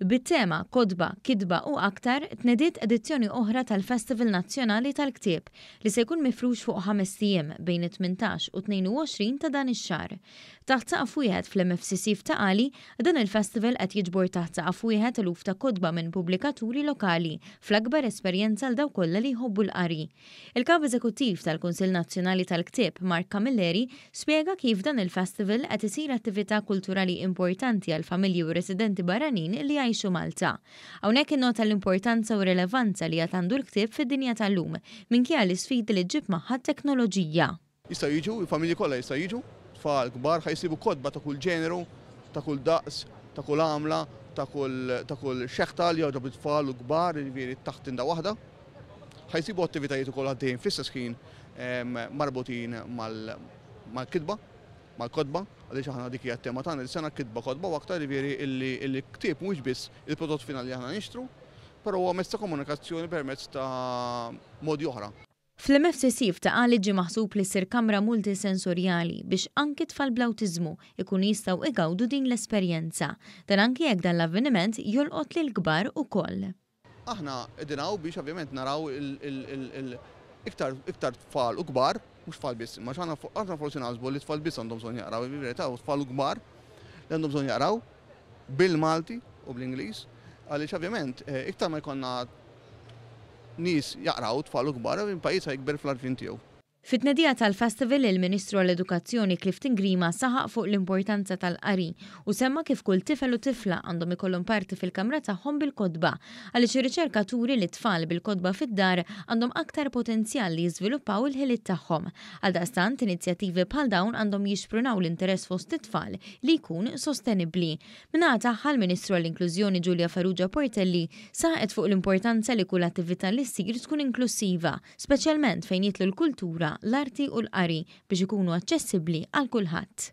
bit-tema Kotba, Kitba u Aktar tnediet edizzjoni oħra tal-Festival Nazzjonali tal-Ktieb li se jkun mifrux fuq ħamest ijiem bejn it-tmintax u t-tnejn-u-għoxrin ta' dan ix-xahar. Taħt saqaf wieħed fl-MFCC f'Ta' Qali, dan il-festival qed jiġbor taħt saqaf wieħed eluf ta' kotba minn pubblikaturi lokali fl-akbar esperjenza għal dawk kollha li jħobbu l-qari. Il-Kap Eżekuttiv tal-Kunsill Nazzjonali tal-Ktieb, Mark Camilleri, spjega kif dan il-festival qed isir attività kulturali importanti għall-familji u r-residenti barranin li jgħixu Malta. Hawnhekk innota l-importanza u r-rilevanza li għad għandu l-ktieb fid-dinja tal-lum, minkejja l-isfidi li ġġib magħha t-teknoloġija. Jistgħu jiġu, il-familji kollha jistgħu jiġu, tfal, kbar, ħa jsibu kotba ta' kull ġeneru, ta' kull daqs, ta' kull għamla, ta' kull ta' kull xeħta li jogħġob lit-tfal u l-kbar, jiġifieri taħt tinda waħda. Ħa jsibu attivitajiet ukoll għaddejjin fl-istess ħin marbutin mal mal-kitba, mal-kotba, għaliex aħna dik hija t-tema tagħna dis-sena, kitba, kotba u aktar, jiġifieri illi illi ktieb mhuwiex biss il-prodott finali li aħna nixtru, però huwa mezz ta' komunikazzjoni permezz ta' modi oħra. Fl-MFCC f'Ta' Qali ġie maħsub li ssir kamra multisensorjali biex anki tfal bl-awtiżmu jkunu jistgħu igawdu din l-esperjenza. Dan anki jekk dan l-avveniment jolqot lill-kbar ukoll. Aħna qegħdin hawn biex ovvjament naraw iktar iktar tfal u kbar, mhux tfal biss, imma aħna forsi naħsbu li t-tfal biss għandhom bżonn jaqraw, imma fil-verità hu t-tfal u l-kbar li għandhom bżonn jaqraw. bil-Malti u bl-Ingliż għaliex ovvjament iktar ma jkollna nies jaqraw, tfal u kbar, il-pajjiż ħa jikber fl-għarfien tiegħu. Fit-tnedija tal-Festival, il-Ministru għall-Edukazzjoni Clifton Grima saħaq fuq l-importanza tal-qari u semma kif kull tifel u tifla għandhom ikollhom parti fil-kamra tagħhom bil-kotba għaliex ir-riċerka turi li t-tfal bil-kotba fid-dar għandhom aktar potenzjal li jiżviluppaw il-ħiliet tagħhom Għaldaqstant, inizjattivi bħal dawn għandhom jixprunaw l-interess fost it-tfal li jkun sostenibbli. Min-naħa tagħha, l-Ministru għall-Inklużjoni Julia Farrugia Portelli saħqet fuq l-importanza li kull attività li ssir tkun inklussiva, speċjalment fejn jidħlu l-kultura, l-arti u l-qari biex ikunu aċċessibbli għal kulħadd.